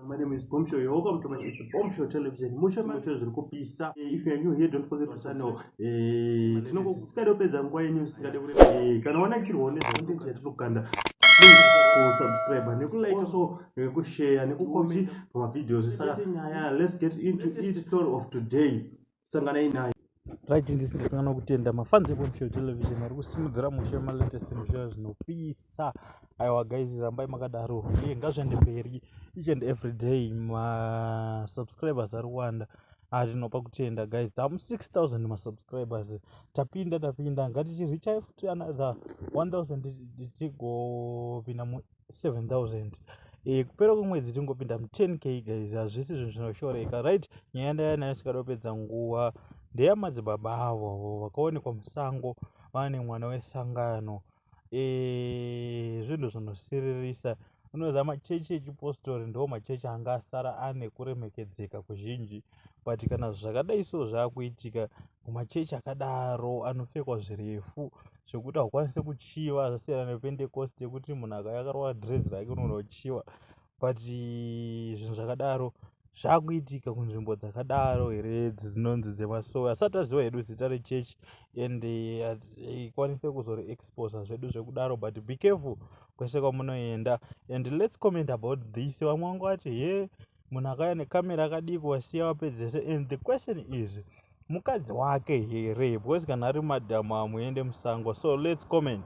My name is Bombshell. You're welcome to my it's Bombshell Television. Mushe mushe zviri kupisa. Eh, if you are new here, don't forget to sign up. Eh, tinokukada kupedza nguva yenyu isikade kure. Eh, kana wanakirwa ne content yatinokanda. Please ku subscribe ne ku like also ne ku share ne ku comment pa videos. Saka nyaya, let's get into each story of today. sanganai nayo right ndisingakanganwa kutenda mafans ekwemshow television vari kusimudzira mushe malatest mushe zvinopisa aiwa guys rambai makadaro uye ngazviende mberi each and every day masubscribers ari kuwanda atinopa ah, kutenda guys tamu 6000 masubscribers tapinda tapinda ngatichirwichai futi another 1000 tichigopinda 7000 eh, kupera kwemwedzi tingopinda mu 10 k guys hazvisi zvinhu zvinoshoreka right nyaya ndaya nayo sikadopedza nguva ndeya madzibaba avo vakaonekwa musango vane mwana wesangano eh, zvinhu e, zvinosiririsa unoziva machechi echipostori ndo machechi anga asara ane kuremekedzeka kuzhinji but kana zvakadai so zvakuitika kumachechi akadaro anopfekwa zvirefu zvekuti haukwanise kuchiva zvasiyana nepentecost yekuti munhu akaya akarova dress rake unoona kuchiva but zvinhu zvakadaro zvakuitika kunzvimbo dzakadaro here dzinonzi dzemasowe asati aziva hedu zita rechechi and eh, ikwanise kuzori exposa zvedu zvekudaro but be careful kwese kwamunoenda and lets comment about this vamwe vangu vati he munhu akauya necamera akadii kuwasiya wapedzese and the question is mukadzi wake here because kana ari madhamu amuende musango so lets comment